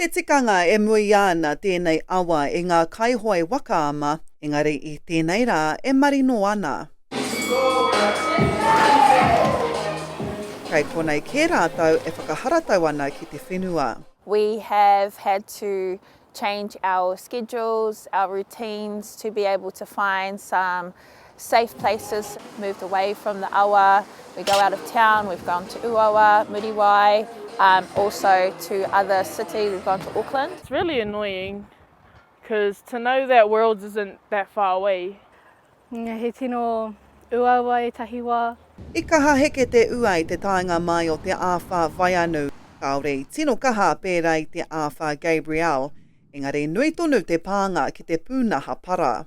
Te tikanga e muia ana tēnei awa e ngā kaihoe waka ama, engari i tēnei rā e marino ana. Kei konei kē rātou e whakaharatau ana ki te whenua. We have had to change our schedules, our routines to be able to find some Safe places moved away from the awa, we go out of town, we've gone to Ūawa, Muriwai, um, also to other cities, we've gone to Auckland. It's really annoying, because to know that Worlds isn't that far away. Nga he tino uaua etahi wa. I kaha heke te ua i te taenga mai o te āwhā Vaianu, kāore i tino kaha pērā i te āwhā Gabrielle, engari nui tonu te pānga ki te pūnaha para.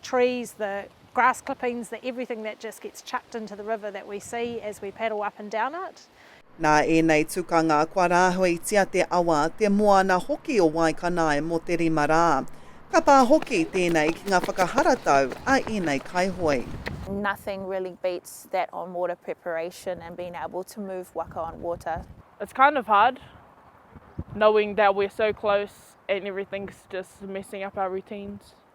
trees, the grass clippings, the everything that just gets chucked into the river that we see as we paddle up and down it. Nā ēnei tukanga kua rāhuitia te awa, te moana hoki o Waikanae mō te rima rā. Ka pā hoki tēnei ki ngā whakaharatau a ēnei kaihoe. Nothing really beats that on water preparation and being able to move waka on water. It's kind of hard knowing that we're so close and everything's just messing up our routines.